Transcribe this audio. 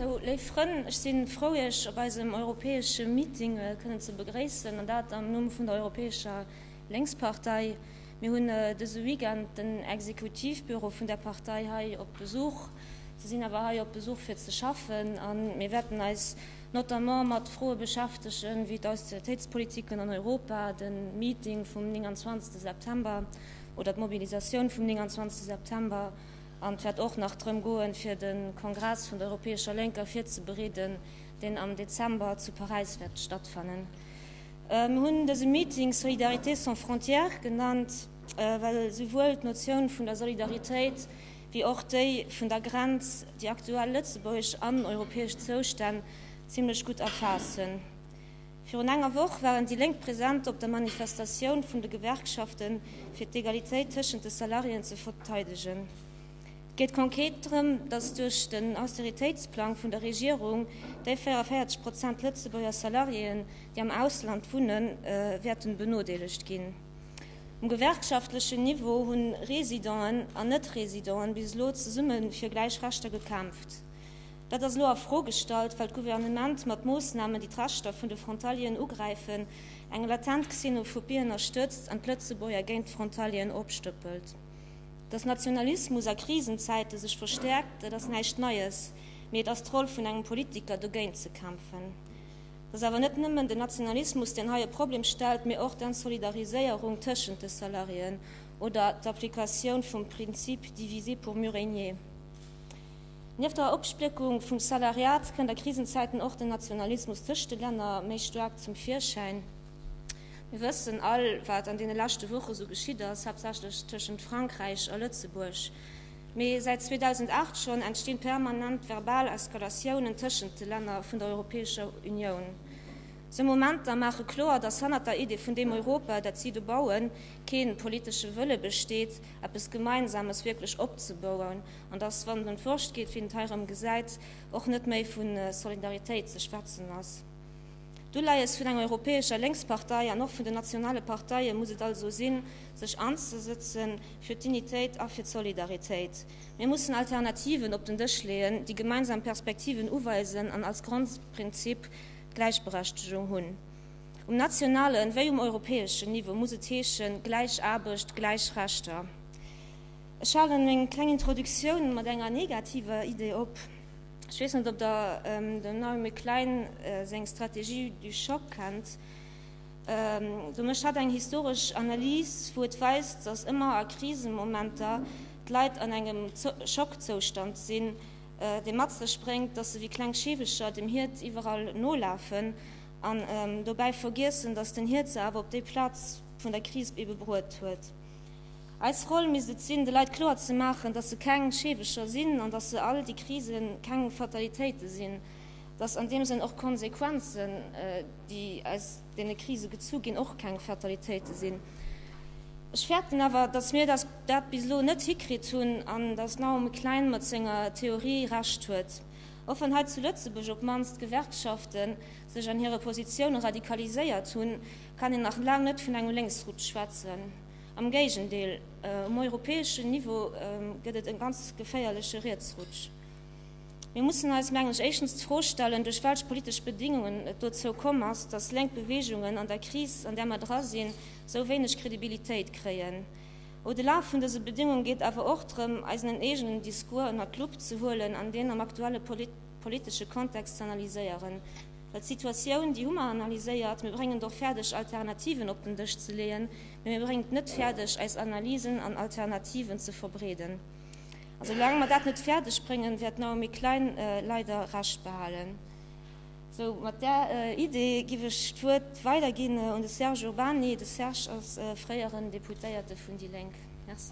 Sou, léif Frënn, ech si frou, Iech op eisem europäesche Meeting kënnen ze begréissen, an dat am Numm vun der Europäescher Lénkspartei. Mir hunn dëse Weekend den Exekutivbüro vun där Partei hei op Besuch. Si sinn awer hei op Besuch fir ze schaffen, a mir wäerten eis notamment mat Froe beschäftege wéi d'Austeritéitspolitiken an Europa, de Meeting vum 29 September oder d'Mobilisatioun vum 29 September. An et wäert och nach drëm goen, fir de Kongress vun der Europäescher Lénker virzebereeden, deen am Dezember zu Paräis wäert stattfannen. Mir hunn dëse Meeting Solidarité sans frontières genannt, well esouwuel d'Notioun vun der Solidaritéit wéi och déi vun der Grenz déi aktuell lëtzebuergesch an europäesch Zoustänn zimlech gutt erfaassen. Virun enger Woch waren déi Lénk present op der Manifestatioun vun de Gewerkschaften, fir d'Egalitéit tëschent de Salariéen ze verteidegen. Et geet konkret drëm, datt duerch den Austeritéitsplang vun der Regierung déi 44 Prozent Lëtzebuerger Salariéen, déi am Ausland wunnen, wäerten benodeelegt ginn. Um gewerkschaftlechen Niveau hunn Residenten an Net-Residenten bis elo zesumme fir gläich Rechter gekämpft. Dat ass elo a Fro gestallt, well d'Gouvernement mat Moossnamen, déi d'Rechter vun de Frontalieren ugräifen, eng latent Xenophobie ënnerstëtzt an d'Lëtzebuerger géint d'Frontalieren opstëppelt. Dass Nationalismus a Krisenzäite sech verstäerkt, dat ass näischt Neies, mee et ass d'Roll vun engem Politiker, dogéint ze kämpfen. Et ass awer net nëmmen den Nationalismus, deen hei e Problem stellt, mee och d'Ensolidariséierung tëschent de Salariéen oder d'Applikatioun vum Prinzip diviser pour mieux régner. Nieft der Opspléckung vum Salariat kënnt a Krisenzäiten och den Nationalismus tëscht de Länner méi staark zum Virschäin. Mir wëssen all, wat an deene leschte Woche esou geschitt ass, haaptsächlech tëschent Frankräich a Lëtzebuerg, mee säit 2008 schonn entstinn permanent verbal Eskalatiounen tëschent de Länner vun der Europäescher Unioun. Sou Momenter maache kloer, dass hannert der Idee vun deem Europa, dat si do bauen, kee politesche Wëlle besteet, eppes Gemeinsames wierklech opzebouen. An dass, wann en fuerscht geet, wéi en et hei erëm gesäit, och net méi vu Solidaritéit ze schwätzen ass. D'Uleies vun enger europäescher Lénkspartei an och vun den nationale Parteie muss et also sinn, sech anzesëtze fir d'Dignitéit a fir d'Solidaritéit. Mir mussen Alternativen op den Dësch leeën, déi gemeinsam Perspektiven uweisen an als Grondprinzip d'Gläichberechtegung hunn. Um nationalen wéi um europäeschen Niveau muss et heeschen, gläich Aarbecht, gläich Rechter. Ech halen meng kleng Introduktioun mat enger negativer Idee op. Ech weess net, ob der dem Naomi Klein seng Stratégie du choc kennt. Do mécht hatt eng historesch Analys, wou et weist, dass ëmmer a Krisemomenter d'Leit an engem Schockzoustand sinn, dee mat sech bréngt, dass se wéi kleng Scheewecher dem Hiert iwwerall nolafen an dobäi vergiessen, dass den Hiert se awer op déi Plaz vun der Kris ebe bruet huet. Eis Roll misst et sinn, de Leit kloer ze maachen, dass se keng Scheewecher sinn an dass se all déi Krise keng Fatalitéite sinn, dass an deem Sënn och d'Konsequenzen, déi aus deene Krise gezu ginn, och keng Fatalitéite sinn. Ech fäerten awer, dass mir dat bis elo net hikritt hunn an dass Naomi Klein mat senger Theorie Recht huet, och wann hei zu Lëtzebuerg op d'mannst d'Gewerkschafte sech an hire Positioune radikaliséiert hunn, kann een nach laang net vun engem Lénksruck schwätzen. Am Géigendeel, um europäeschen Niveau gëtt et e ganz geféierleche Rietsrutsch. Mir mussen eis, mengen ech, éischtens d'Fro stellen, duerch welch politesch Bedingungen et dozou komm ass, datt lénk Beweegungen an der Kris, an där mer dra sinn, esou wéineg Kredibilitéit kréien. Au-delà vun dëse Bedéngunge geet et awer och drëm, eisen eegenen Discours ënnert d'Lupp ze huelen an deen am aktuelle politesche Kontext ze analyséieren. Well d'Situatioun, déi hu mer analyséiert. Mir bréngen et och fäerdeg, Alternativen op den Dësch ze leeën, mä mir bréngen et net fäerdeg, eis Analysen an Alternativen ze verbreeden. A soulaang mer dat net fäerdeg bréngen, wäert d'Naomi Klein leider Recht behalen. Sou, mat där Idee giff ech d'Wuert weiderginn un de Serge Urbany. De Serge ass fréieren Deputéierte vun déi Lénk. Merci.